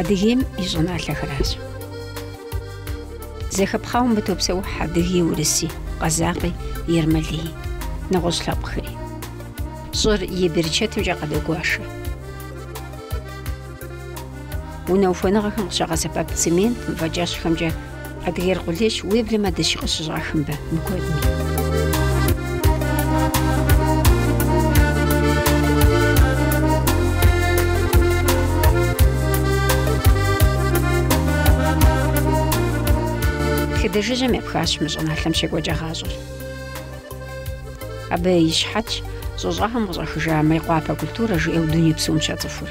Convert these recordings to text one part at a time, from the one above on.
Адыгейм и щӏыналъэхэращ. Зэхэпхъауэ мыбы топсэухь адыги, урыси, къэзакъи, ермэлыи, нэгъуэщӏ лъэпкъхэри. Щӏыр и берычэтымкӏэ къадогуашэ. Унэ ухуэныгъэхэм къыщагъэсэбэп цемент мывэкӏэщхъхэмкӏэ Адыгейр къулейщ, уеблэмэ дыщи къыщыщӏах мыбы, мыкуэдми. Тхыдэжыжьэм епхащ мы щӏыналъэм щекӏуэкӏа гъащӏэр. Абы и щыхьэтщ щӏы щӏагъым къыщӏахыжа Мейкъуапэ культурэ жиӏэу дуней псом щацӏыхур.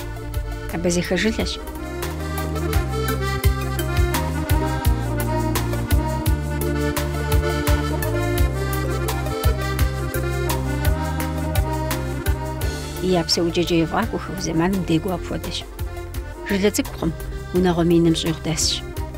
Абазэхэ жылэщ. Я псэукӏэкӏэ ефӏакӏуэхэу зэманым декӏуу апхуэдэщ. Жылэ цӏыкӏукъым, унагъуэ миным щӏигъу дэсщ.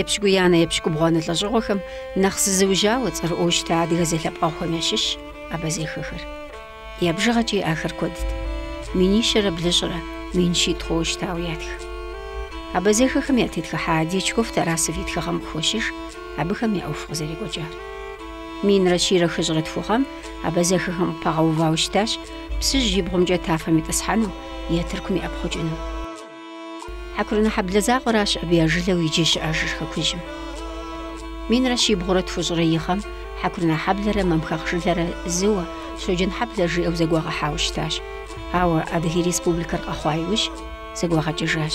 Епщыкӏуиянэ-епщыкӏубгъуанэ лӏэщӏыгъуэхэм нэхъ зызыужьауэ цӏэрыӏуэу щыта адыгэ зэлъэпкъэгъухэм ящыщщ абазэхэхэр. Я бжыгъэкӏи ахэр куэдт. Минищэрэ блыщӏрэ мин щитӏ хъууэ щытауэ ятх. Абазэхэхэм ятетхыхьа Дьячков-Тарасов и тхыгъэм къыхощыж абыхэм я ӏуэху къызэрекӏуэкӏар. Минрэ щийрэ хыщӏрэ тху гъэм абазэхэхэм къыпагъэувауэ щытащ Псыжь и бгъумкӏэ тафэм итӏысхьэну е Тыркум иӏэпхъукӏыну. Хьэкурынэхьэблэ закъуэращ абы я жылэу иджы щыӏэжыр хэкужьым. Минрэ щибгъурэ тхущӏрэ и гъэм Хьэкурынэхьэблэрэ Мамхэгъ жылэрэ зыуэ Щоджэнхьэблэ жиӏэу зэгуагъэхьауэ щытащ, ауэ Адыгей Республикэр къэхъуа иужь, зэгуагъэкӏыжащ.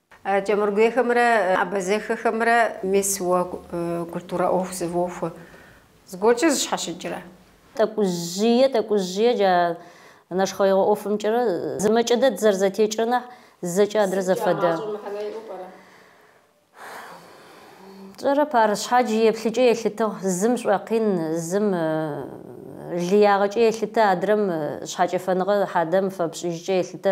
Кӏэмыргуейхэмрэ абазэхэхэмрэ. Мис уэ культурэ ӏуэху зывохуэ зыгуэркӏэ зыщхьэщыкӏрэ? Тӏэкӏужьие, тӏэкӏужьие джа нэшхъэегъуэ ӏуэфымкӏэрэ зымэкӏэ дэ дызэрызэтекӏрэ нэхь зэкӏэ адрэ зэфэдэ. Тщӏэрэп ар, щхьэджи и еплъыкӏэ елъытыгъ, зым щӏуэкъин, зым лыягъэкӏэ елъытэ, адрэм щхьэкӏэфэныгъэ хьэдэм фэпщӏыжкӏэ елъытэ,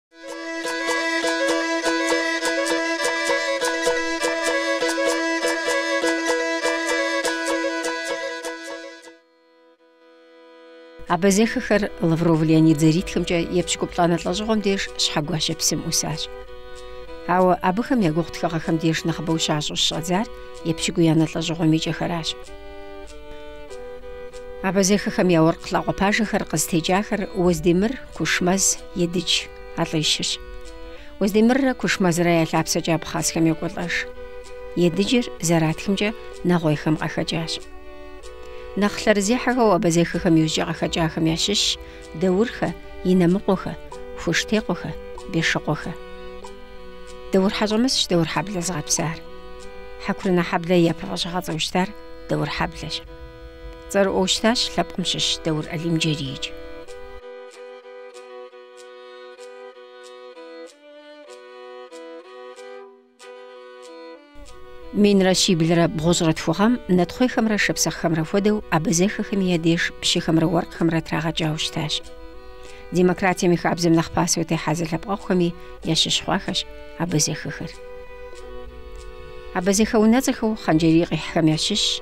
Абазэхэхэр Лавров Леонид зэритхэмкӏэ епщыкӏуплӏанэ лӏэщӏыгъуэм деж Щхьэгуащэ псым ӏусащ. Ауэ абыхэм я гугъу тхыгъэхэм деж нэхъыбэу щащӏу щыщӏадзар епщыкӏуиянэ лӏэщӏыгъуэм и кӏэхэращ. Абазэхэхэм я уэркъ лӏакъуэ пажэхэр къызытекӏахэр Уэздемыр, Кушмэз Едыдж а лӏищырщ. Уздемыррэ Кушмэзрэ я лъапсэкӏэ абхъазхэм йокӏуэлӏэж. Едыджыр зэратхымкӏэ нэгъуейхэм къахэкӏащ. Нэхъ лъэрызехьэхэу абазэхэхэм иужькӏэ къахэкӏахэм ящыщщ Даурхэ, Инэмыкъуэхэ, Хуштекъуэхэ, Бешыкъуэхэ. Даур Хьэщӏэмысщ Даурхьэблэ зыгъэпсар. Хьэкурынэхьэблэ и япэ фӏэщыгъэцӏэу щытар Даурхьэблэщ. Цӏэрыӏуэу щытащ лъэпкъым щыщ Даур Алимджэрийкӏ. Минрэ щиблрэ бгъущӏрэ тху гъэм нэтхъуейхэмрэ шапсыгъхэмрэ хуэдэу абазэхэхэми я деж пщыхэмрэ уэркъхэмрэ трагъэкӏауэ щытащ. Демократием и хабзэм нэхъ пасэу техьа зэлъэпкъэгъухэми ящыщ хъуахэщ абазэхэхэр. Абазэхэ унэцӏэхэу Хъанджэрий къихьхэм ящыщщ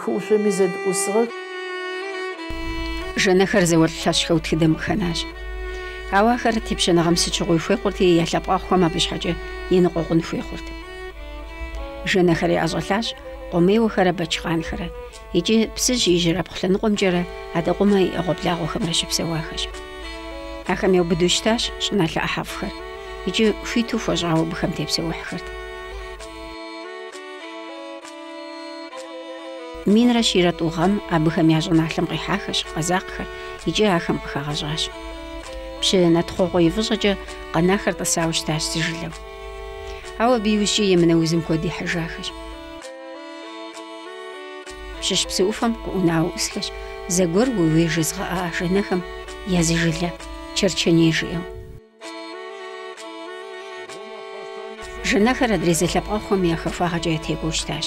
Хыӏушъоми зэдыӏусыгъэх. Жэнэхэр зауэлӏ лъэщхэу тхыдэм къыхэнащ. Ауэ ахэр тепщэныгъэм сыт щыгъуи хуей хъурти, я лъэпкъэгъухэм абы щхьэкӏэ еныкъуэкъун хуей хъурт. Жэнэхэр яӏэщӏэлъащ Къомейуэхэрэ Бэчхъанхэрэ икӏи Псыжь и ижьырабгъу лъэныкъуэмкӏэрэ Адэкъумэ и ӏэгъуэблагъуэхэмрэ щыпсэуахэщ. Ахэм яубыдэу щытащ щӏыналъэ ӏыхьэфӏхэр икӏи хуиту хуэщӏауэ абыхэм тепсэухьхэрт. Минрэ щийрэ тӏу гъэм абыхэм я щӏыналъэм къихьахэщ къэзакъхэр икӏи ахэм къыхагъэщӏащ. Пщы Натхъуэхъуэ и фӏыщӏэкӏэ къэнахэр тӏысауэ щытащ зы жылэу. Ауэ абы иужькӏэ емынэ узым куэд ихьыжахэщ. Пщыщ псы ӏуфэм къыӏунауэ ӏусхэщ зэгуэр уей-уей жезыгъэӏа жэнэхэм я зы жылэ, Черченей жиӏэу. Жэнэхэр адрей зэлъэпкъэгъухэм я хахуагъэкӏэ ятекӏуэу щытащ.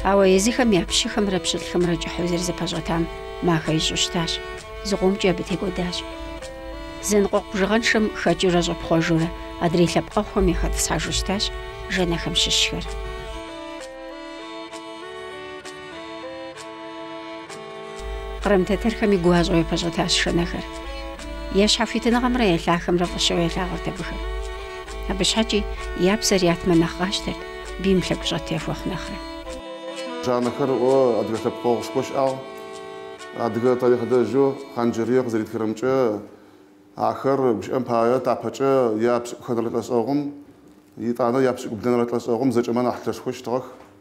Ауэ езыхэм я пщыхэмрэ пщылӏхэмрэ кӏыхьу зэрызэпэщӏэтам махэ ищӏу щытащ, зыкъомкӏи абы текӏуэдащ. Зэныкъуэкъу бжыгъэншэм хэкӏыурэ щӏэпхъуэжурэ адрей лъэпкъэгъухэм яхэтӏысхьэжу щытащ жэнэхэм щыщхэр. Кърым тэтэрхэми гуащӏэу япэщӏэтащ жэнэхэр. Я щхьэхуитыныгъэмрэ я лъахэмрэ фӏыщэу ялъагъурт абыхэм. Абы щхьэкӏи я псэр ятмэ нэхъ къащтэрт, бийм лъэгущӏэт яхуэхъу нэхърэ. Жанэхэр адыгэ лъэпкъэгъушхуэ щыӏагъ. Адыгэ тарихълэжьу Хъан-Джэрие къызэритхэрэмкӏэ, ахэр гущыӏэм пае тапэкӏэ я пшӏыкӏухэнэрэ лӏэщӏэгъум, итӏанэ я пшӏыкӏублэнэрэ лӏэщӏэгъум зэкӏэмэ нахь лъэшхэу щытыгъэх.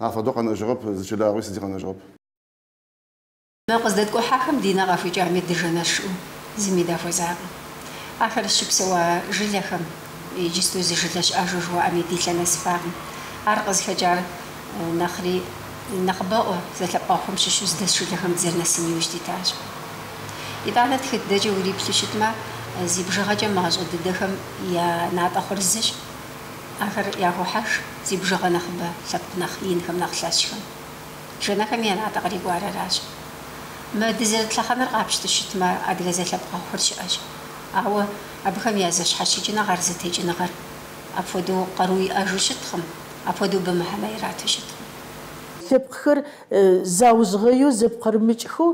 Афэдэу къэнэжьыгъэп, зы чылагъуи сыди къэнэжьыгъэп. Мы къыздэткӏухьахэм ди нэ къахуикӏами дыжэнэщ жиӏэу зыми дахуэзакъым. Ахэр щыпсэуа жылэхэм иджысту зы жылэ щыӏэжу жыхуаӏэми ди лъэ нэсыфакъым. Ар къызыхэкӏар нэхъри нэхъыбэӏуэ зэлъэпкъэгъухэм щыщу зыдэс жылэхэм дызэрынэсын иужь дитащ. Итӏанэ тхыдэкӏэ уриплъу щытмэ, зи бжыгъэкӏэ мащӏэ дыдэхэм я натӏэ хъур зыщ. Ахэр яхохьэж зи бжыгъэ нэхъыбэ лъэпкъ нэхъ инхэм, нэхъ лъэщхэм. Жэнэхэми я натӏэ кърикӏуар аращ. Мы дызэрыт лъэхъэнэр къапщту щытмэ, адыгэ зэлъэпкъэгъухэр щыӏэщ. Ауэ абыхэм я зэщхьэщыкӏыныгъэр, зэтекӏыныгъэр апхуэдэу къару иӏэжу щыткъым, апхуэдэу абы мыхьэнэ ирату щыткъым. Лъэпкъхэр заужьгъэеу зэпкъырымыкӏхэу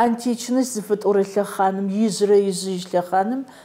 античность зыфэтӏорэ лъэхъаным, ижъырэ ижъыжь лъэхъаным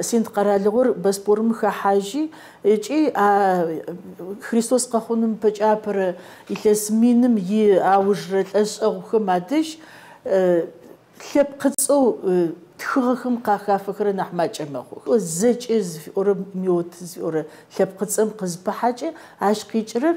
Синд къэралыгъуэр Боспорым хэхьажьи икӏи а Христос къэхъуным ипэкӏэ апэрэ илъэс миным и аужрэ лӏэщӏэгъухэм адэжь лъэпкъыцӏэу тхыгъэхэм къахафэхэрэр нэхь макӏэ мэхъух. Зэкӏэ зыфиӏорэ меот зыфиӏорэ лъэпкъыцӏэм къызыпыхьэкӏэ ащ къикӏырэр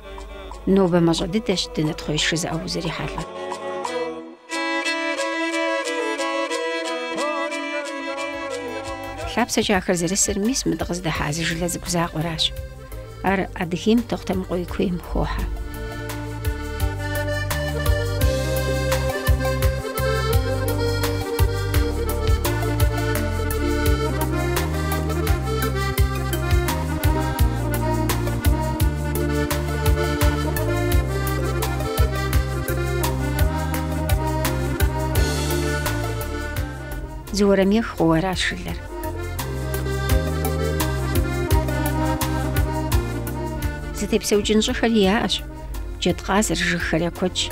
Нобэ мащӏэ дыдэщ дынэтхъуейщ жызыӏэу узэрихьэлӏэр. Лъапсэкӏэ ахэр зэрысыр мис мы дыкъыздэхьа зы жылэ цӏыкӏу закъуэращ. Ар Адыгейм Тохъутэмыкъуей куейм хохьэ. Зы уэрамих хъууэ аращ жылэр. Зытепсэукӏын щӏыхэри яӏэщ. Джэдкъазыр жыгхэр я куэдщ.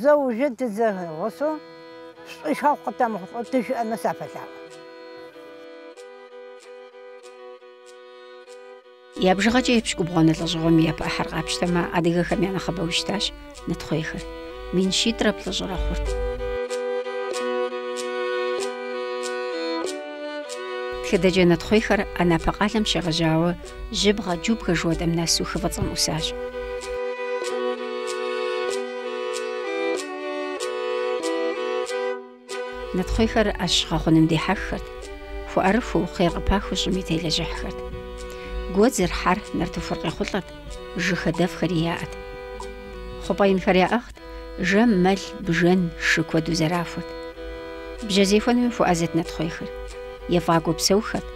Зэужэ тызэгъусэу шӏуихьэу къытэмыхъулӏэу тыщыӏэнэу сафэлъаӏо. Я бжыгъэкӏэ епщыкӏубгъуанэ лӏэщӏыгъуэм и япэ ӏыхьэр къапщтэмэ, адыгэхэм я нэхъыбэу щытащ нэтхъуейхэр. Мин щитӏрэ плӏыщӏрэ хъурт. Тхыдэкӏэ нэтхъуейхэр Анапэ къалэм щегъэжьауэ, Жьыбгъэ, Джубгэ жыхуэтӏэм нэсу хы Фӏыцӏэм ӏусащ. Нэтхъуейхэр ӏэщ гъэхъуным дихьэххэрт, хуэӏэрыхуэу, хъер къыпахыу щӏыми телэжьыхьхэрт. Гуэдзыр, хьэр, нартыхур къехъулӏэрт, жыг хадэфӏхэри яӏэт. Хъупӏэ инхэр яӏыгът, жэм, мэл, бжэн, шы куэду зэрахуэрт. Бжьэ зехуэнми хуэӏэзэт нэтхъуейхэр. Ефӏакӏуэу псэухэрт,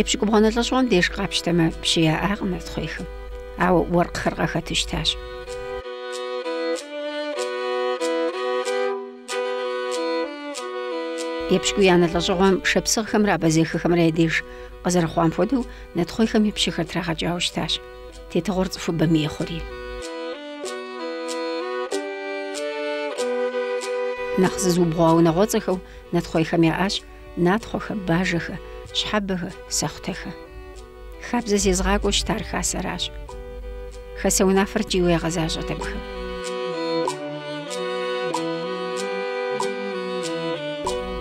Епщыкӏубгъуанэ лӏэщӏыгъуэм деж къапщтэмэ, пщы яӏакъым нэтхъуейхэм. Ауэ уэркъхэр къахэту щытащ. Епщыкӏуиянэ лӏэщӏыгъуэм шапсыгъхэмрэ абэзэхэхэмрэ я деж къызэрыхъуам хуэдэу, нэтхъуейхэми пщыхэр трагъэкӏауэ щытащ. Тетыгъуэр цӏыхубэм ей хъури. Нэхъ зызыубгъуа унагъуэцӏэхэу нэтхъуейхэм яӏащ натхъуэхэ, бажэхэ, щхьэбэхэ, сэхъутэхэ. Хабзэ зезыгъакӏуэу щытар хасэращ. Хасэ унафэр ткӏийуэ ягъэзащӏэт абыхэм.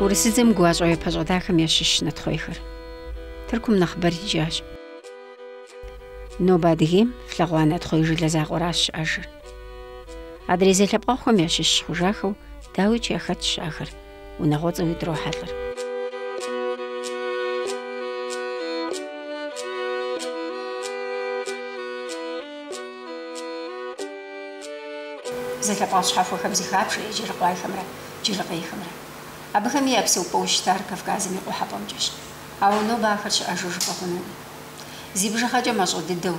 Урысыдзэм гуащӏэу япэщӏэтахэм ящыщ нэтхъуейхэр. Тыркум нэхъыбэр икӏащ. Нобэ Адыгейм флъэгъуа нэтхъуей жылэ закъуэращ щыӏэжыр. Адрей зэлъэпкъэгъухэм ящыщ хъужахэу дауикӏ яхэтщ ахэр. унагъуэцӏэуи дрохьэлӏэр. Зэлъэпкъэгъу щхьэхуэхэм зыхабжэ еджэрыкъуайхэмрэ джырыкъейхэмрэ. Абыхэми я псэупӏэу щытар Кавказым и къухьэпӏэмкӏэщ. Ауэ нобэ ахэр щыӏэжу жыпӏэ хъунуми. Зи бжыгъэкӏэ мащӏэ дыдэу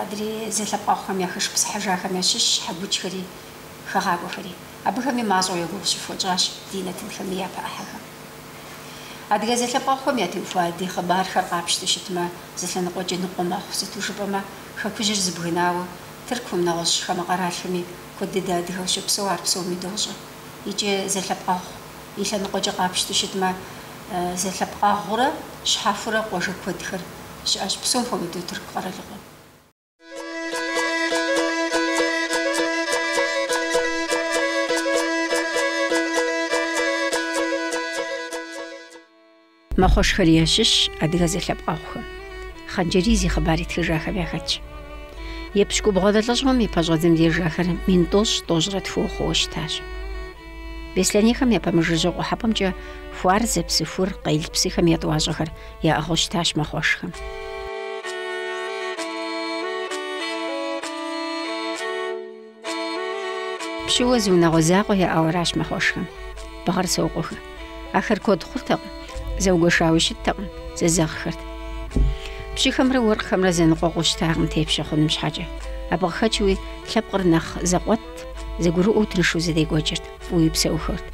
адрей зэлъэпкъэгъухэм яхэшыпсыхьыжахэм ящыщщ хьэкучхэри хэгъакӏуэхэри. Абыхэми мащӏэу я гугъу щыфхуэтщӏащ ди нэтынхэм и япэ ӏыхьэхэм. Адыгэ зэлъэпкъэгъухэм ятеухуа ди хъыбархэр къапщтэу щытмэ, зы лъэныкъуэкӏи ныкъуэ мэхъу, сыту жыпӏэмэ, Хэкужьыр зыбгынауэ, Тыркум, нэгъуэщӏ хамэ къэралхэми куэд дыдэ адыгэу щопсэу ар псоми дощӏэ. Икӏи зэлъэпкъэгъу и лъэныкъуэкӏи къапщтэу щытмэ, зэлъэпкъэгъурэ щхьэхуэрэ къуажэ куэдхэр щыӏэщ, псом хуэмыдэу Тырку къэралыгъуэм. Мэхъуэшхэр ящыщщ адыгэ зэлъэпкъэгъухэм. Хъанджэрий зи хъыбар итхыжахэм яхэтщ. Епщыкӏубгъуанэ лӏэщӏыгъуэм и пэщӏэдзэм деж ахэр мин тӏощӏ тӏощӏрэ тхууэ хъууэ щытащ. Беслъэнейхэм япэмыжыжьэу къухьэпӏэмкӏэ Хуарзэ, Псыхур, Къел псыхэм я тӏуащӏэхэр яӏыгъыу щытащ мэхъуэшхэм. Пщыуэ зы унагъуэ закъуэ яӏауэращ мэхъуэшхэм. Бгъэрсокъуэхэ. Ахэр куэд хъуртэкъым, зэугуэшауи щыттэкъым, зэзэгъхэрт. Пщыхэмрэ уэркъхэмрэ зэныкъуэкъуу щытакъым тепщэ хъуным щхьэкӏэ. Абы къыхэкӏыуи лъэпкъыр нэхъ зэкъуэтт, зэгурыӏуэу тыншу зэдекӏуэкӏырт, фӏыуи псэухэрт.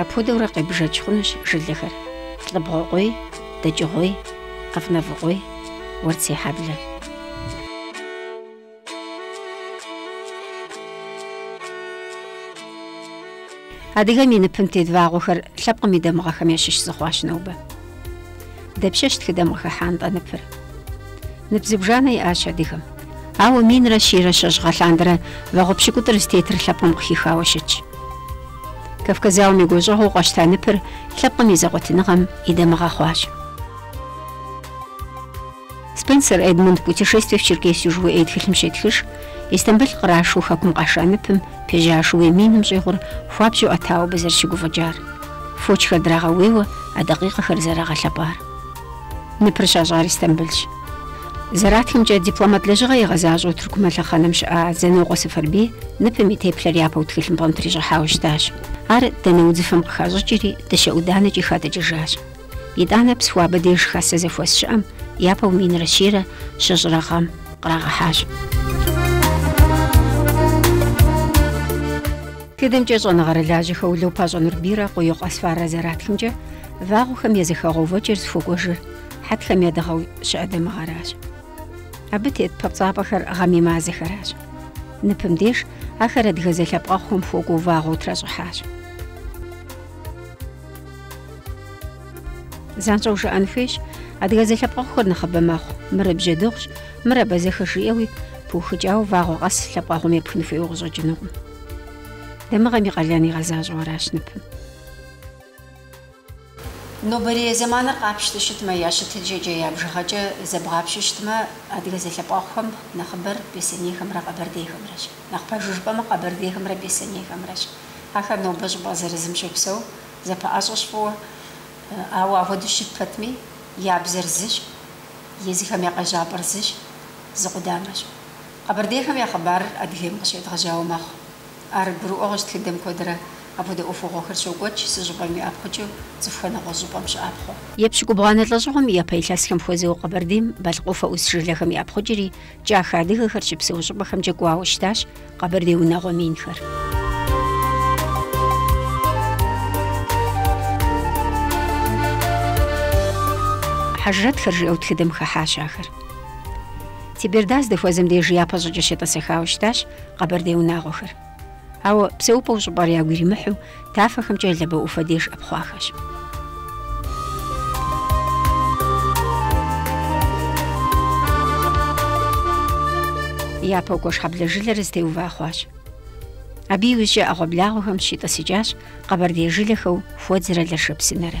Апхуэдэурэ къебжэкӏ хъунущ жылэхэр, лӏыбгъуэкъуей, дэкӏыгъуей, къэфнэфӏыкъуей, уэрцехьэблэ. Адыгэм и ныпым тет вагъуэхэр лъэпкъым и дамыгъэхэм ящыщ зыхъуащ нобэ. Дапщэщ тхыдэм къыхыхьа нтӏэ ныпыр? Нып зыбжанэ иӏащ адыгэм. Ауэ минрэ щийрэ щэщӏ гъэлъандэрэ вагъуэ пщыкӏутӏыр зытетыр лъэпкъым къыхихауэ щытщ. Кавказ зауэм и гуащӏэгъуэу къащта ныпыр лъэпкъым и зэкъуэтыныгъэм и дамыгъэ хъуащ. Спенсер Эдмунд Путешествие в Черкесию жыхуиӏэ и тхылъым щетхыж, Истамбыл кърашу хэкум къаша ныпым пежьа шууей миным щӏигъур хуабжьу ӏэтауэ абы зэрыщыгуфӏыкӏар. Фочхэр драгъэуейуэ а дакъикъэхэр зэрагъэлъэпӏар. Ныпыр щащӏар Истамбылщ. Зэратхымкӏэ, дипломат лэжьыгъэ игъэзащӏэу Тыркум а лъэхъэнэм щыӏа Занокъуэ Сэфэрбий ныпым и теплъэр япэу тхылъымпӏэм трищӏыхьауэ щытащ. Ар данэ удзыфэм къыхащӏыкӏри, дыщэ ӏуданэкӏи хадыкӏыжащ. Итӏанэ Псыхуабэ деж хасэ зэхуэс щыӏэм япэу минрэ щийрэ щыщӏрэ гъэм кърагъэхьащ. Тхыдэмкӏэ щӏэныгъэрылажьэхэу Лэупащӏэ Нурбийрэ Къуийкъуэ Асфаррэ зэратхымкӏэ, Вагъуэхэм я зэхэгъэувэкӏэр зыхуэкӏуэжыр хьэтхэм я дыгъэу щыӏэ дамыгъэращ. Абы тет папцӏапӏэхэр гъэм и мазэхэращ. Ныпым деж ахэр адыгэ зэлъэпкъэгъухэм хуэкӏуэу вагъуэу тращӏыхьащ. Занщӏэу жыӏэн хуейщ, адыгэ зэлъэпкъэгъухэр нэхъыбэ мэхъу, мыр бжьэдыгъущ, мыр абазэхэщ жиӏэуи, пыухыкӏауэ вагъуэ къэс лъэпкъэгъум епхын хуейуэ къыщӏэкӏынукъым. Дамыгъэм и къалэн игъэзащӏэу аращ ныпым. Нобэрей зэманыр къапщтэу щытмэ, я щытыкӏэкӏэ, я бжыгъэкӏэ зэбгъапщэу щытмэ, адыгэ зэлъэпкъэгъухэм нэхъыбэр беслъэнейхэмрэ къэбэрдейхэмрэщ. Нэхъ пэжу жыпӏэмэ, къэбэрдейхэмрэ беслъэнейхэмрэщ. Ахэр нобэ щӏыпӏэ зырызым щопсэу, зэпэӏэщӏэщ фӏыуэ. Ауэ ахуэдэу щыт пэтми, я бзэр зыщ, езыхэм я къежьапӏэр зыщ, зы къудамэщ. Къэбэрдейхэм я хъыбарыр Адыгейм къыщедгъэжьауэ мэхъу. Ар гурыӏуэгъуэщ, тхыдэм куэдрэ апхуэдэ ӏуэхугъуэхэр щокӏуэкӏ зы щӏыпӏэм иӏэпхъукӏыу, цӏыхухэр нэгъуэщӏ щӏыпӏэм щыӏэпхъуэу. Епщыкӏубгъуанэ лӏэщӏыгъуэм и япэ илъэсхэм хуэзэу Къэбэрдейм Балъкъ ӏуфэ ӏус жылэхэм иӏэпхъукӏри, кӏахэ адыгэхэр щыпсэу щӏыпӏэхэмкӏэ кӏуауэ щытащ Къэбэрдей унагъуэ минхэр. Хьэжрэтхэр жиӏэу тхыдэм хыхьащ ахэр. Теберда здэхуэзэм деж япэ щӏыкӏэ щетӏысэхауэ щытащ. Къэбэрдей унагъуэхэр. Ауэ псэупӏэу щӏыпӏэр ягу иримыхьу, тафэхэмкӏэ Лабэ ӏуфэ деж ӏэпхъуахэщ. Япэу Куэшхьэблэ жылэр зытеува хъуащ. Абы иужькӏэ ӏэгъуэблагъуэхэм щитӏысыкӏащ къэбэрдей жылэхэу Хуэдзрэ Лэшэпсынэрэ.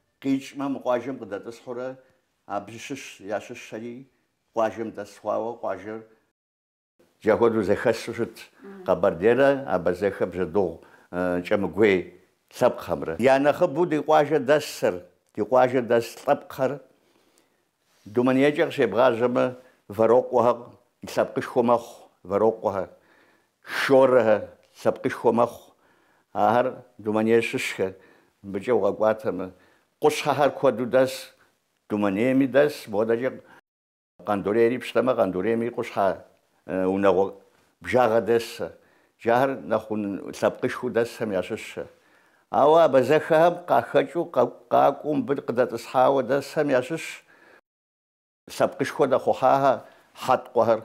Къикӏмэ, мы къуажэм къыдэтӏысхьурэ абы щыщ ящыщэри къуажэм дэс хъуауэ къуажэр. Джа хуэдэу зэхэсу щыт къэбэрдейрэ абазэхэ бжьэдыгъу кӏэмыгуей лъэпкъхэмрэ. Я нэхъыбэу ди къуажэ дэсыр, ди къуажэ дэс лъэпкъхэр Думэнейкӏэ къыщебгъажьэмэ, вэрокъуэхэр лъэпкъышхуэ мэхъу, вэрокъуэхэ, шорэхэ лъэпкъышхуэ мэхъу, ахэр Думэней щыщхэ, мыбыкӏэ укъэкӏуатэмэ. Къущхьэхэр куэду дэс, Думэнейми дэс, модэкӏэ Къандурейри пщтэмэ, Къандурейми къущхьэ Унагъуэ бжагъэ дэсэ. Джахэр нэхъ лъэпкъышхуэу дэсхэм ящыщэ. Ауэ абазэхэхэм къахэкӏыу къакӏуэу мыбы къыдэтӏысхьауэ дэсхэм ящыщ лъэпкъышхуэ дэхъухьахэ хьэткъуэхэр.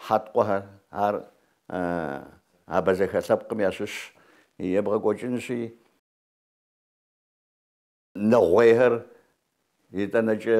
Хьэткъуэхэр, ар абазэхэ лъэпкъым ящыщ, ебгъэкӏуэкӏынщи, нэгъуейхэр, итӏанэкӏэ.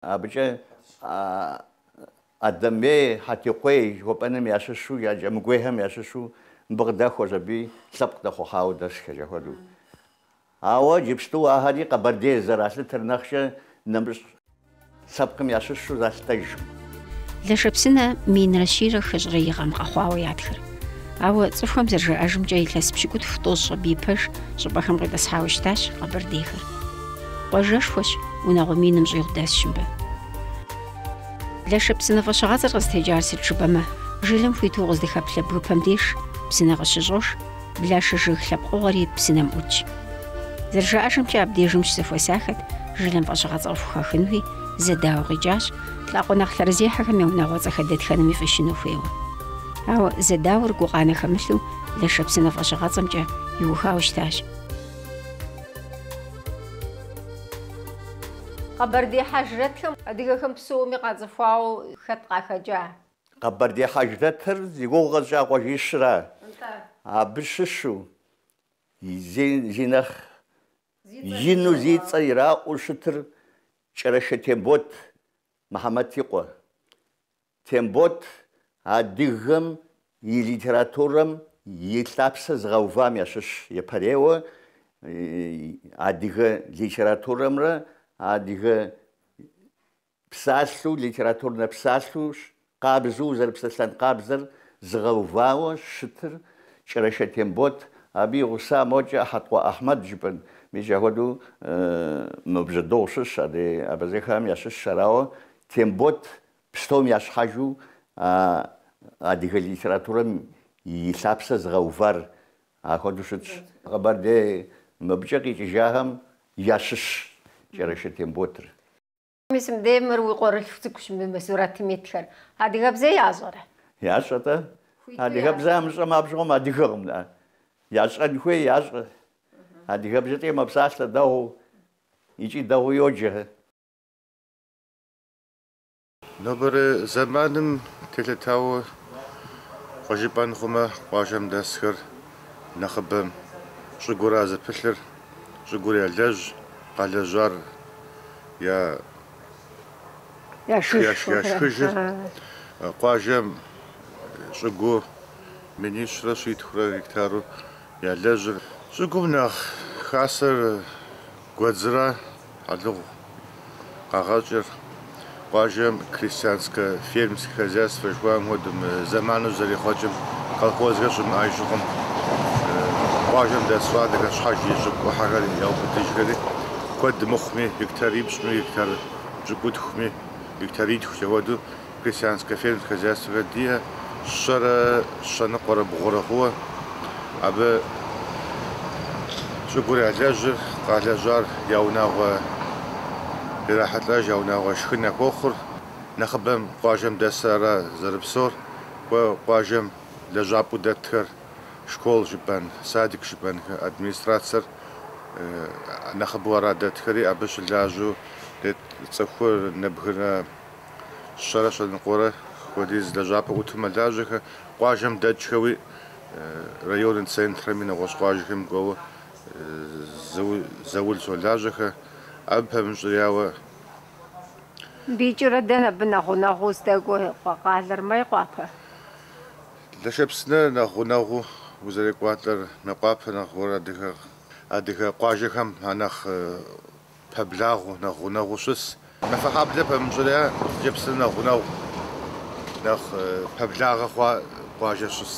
Абыкӏэ Адэмей, Хьэтикъуей жыхуэпӏэным ящыщу, я кӏэмыгуейхэм ящыщу мыбы къыдэхуэщ аби лъэпкъ дэхъухьауэ дэсхэ джа хуэдэу. Ауэ иджыпсту ахэри къэбэрдей зэралъытэр нэхъкӏэ нэмыщӏ лъэпкъым ящыщу залъытэжкъым. Лэшэпсынэ минрэ щийрэ хыщӏрэ и гъэм къэхъуауэ ятхыр. Ауэ цӏыхухэм зэрыжаӏэжымкӏэ илъэс пщыкӏутху тӏощӏкӏэ абы ипэ щӏыпӏэхэм къитӏысхьауэ щытащ къэбэрдейхэр. Къуажэшхуэщ, унагъуэ миным щӏигъу дэсщ мыбы. Лэшэпсынэ фӏэщыгъэцӏэр къызытекӏар сыт жыпӏэмэ, жылэм хуиту укъыздэхэплъэ бгыпэм деж псынэ къыщыщӏож, Блашэ жыг лъэпкъыгъуэри псынэм ӏутщ. Зэрыжаӏэжымкӏэ, абдежым щызэхуэсахэт жылэм фӏэщыгъэцӏэ къыхухахынуи зэдауэ къикӏащ, лӏакъуэ нэхъ лъэрызехьэхэм я унагъуэцӏэхэр дэтхэнэми фӏищыну хуейуэ. Ауэ зэдауэр гукъанэ хэмылъу Лэшэпсынэ фӏэщыгъэцӏэмкӏэ иухауэ щытащ. Къэбэрдей хьэжрэтхэм адыгэхэм псоми къацӏыхуауэ хэт къахэкӏа? Къэбэрдей хьэжрэтыр зи гугъу къэсщӏа къуажищра, абы щыщу зи нэхъ ину зи цӏэ ираӏуэу щытыр Кӏэрэшэ Тембот Мыхьэмэт и къуэ. Тембот адыгэм и литературэм и лъапсэ зыгъэувам ящыщ епэрейуэ адыгэ литературэмрэ адыгэ псалъэу, литературнэ псалъэу, къабзэу зэрыпсэлъэн къабзэр зыгъэувауэ щытыр Кӏэрашэ Тембот, абы и гъуса мокӏэ Хьэткъуэ Ахьмэд жыпӏэн. Мис ахуэдэу мо бжьэдыгъу щыщ адрей абэзэхэм ящыщщ, арауэ Тембот пстом ящхьэжу а адыгэ литературэм и лъапсэ зыгъэувар ахуэдэу щытщ. Къэбэрдей мыбыкӏэ къикӏыжахэм ящыщщ Кӏэрашэ Темботыр. Мис мыбдеж мыр уи къуэрылъху цӏыкӏущ мы сурэтым итхэр. Адыгэбзэ ящӏэрэ? Ящӏэ-тӏэ. Адыгэбзэ ямыщӏэмэ абжьыгъуэм адыгэкъым, да. Ящӏэн хуей ящӏэ. Адыгэбзэкӏи мэпсалъэ дэгъуу икӏи дэгъуу йоджэ. Нобэрэ зэманым телъытауэ кӏуэ жыпӏэн хъумэ, къуажэм дэсхэр нэхъыбэм щӏыгура зэпылъыр? Щӏыгур ялэжь, къалэжьар яшхыжыр. Къуажэм щӏыгуу минищрэ щитхурэ гектару ялэжьыр. Щӏыгум нэхъ хасэр гуэдзрэ. Алыгъу къагъэкӏыр къуажэм крестьянскэ фермерскэ хозяйствэ жыхуаӏэм хуэдэу мы зэману зэрехъуэкӏым колхозхэр щымыӏэж щыхъум, къуажэм дэс щӏалэхэр щхьэж и щӏыгу ӏыхьэхэр яубыдыжхэри, куэд мыхъуми, гектарипщӏми, гектар пщӏыкӏутхуми, гектаритхукӏэ хуэдэу Крестьянскэ фермер хозяйствэхэр диӏэ, щэрэ щэныкъуэрэ бгъурэ хъууэ. Абы щӏыгур ялэжьыр, къалэжьар я унагъуэ ирахьэлӏэж, я унагъуэ шхын яхуохъур. Нэхъыбэм къуажэм дэсыр ара зэрыпсор, кӏуэ къуажэм лэжьапӏэу дэтхэр, школ жыпӏэн, садик жыпӏэнхэр, администрацэр нэхъыбэу ара дэтхэри, абы щылажьэу дэт цӏыхур нэбгырэ Щэрэ щэныкъуэрэ хуэдиз лэжьапӏэ ӏуту мэлажьэхэ, къуажэм дэкӏхэуи, районнэ центрэми нэгъуэщӏ къуажэхэми кӏуэуэ заул щолажьэхэ. Абы пэмыщӏрияуэ. Дэкӏрэ дэнэ абы нэхъ гъунэгъуу здэкӏуэ къалэр Мейкъуапэ? Лэшэпсынэ нэхъ гъунэгъуу узэрекӏуалӏэр Мейкъуапэ нэхъ гуэр адыгэ къуажэхэм анэхъ Пэблагъэу, нэхъ гъунэгъуу щыс. Мафэхьэблэ пэмыщӏрэ Лэшэпсынэ нэхъ гъунэгъу, нэхъ пэблагъэ хъуа къуажэ щыс.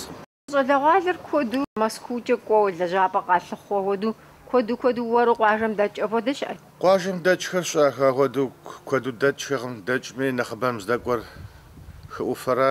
Щӏалэгъуалэр куэду Мэзкуукӏэ кӏуэуэ лэжьапӏэ къалъыхъуу ахуэду, куэду-куэду уэру къуажэм дэкӏ ахуэдэ щыӏэ? Къуажэм дэкӏхэр щыӏэх, ахуэду куэду дэкӏхэкъым, дэкӏми нэхъыбэм здэкӏуэр хы ӏуфэрэ?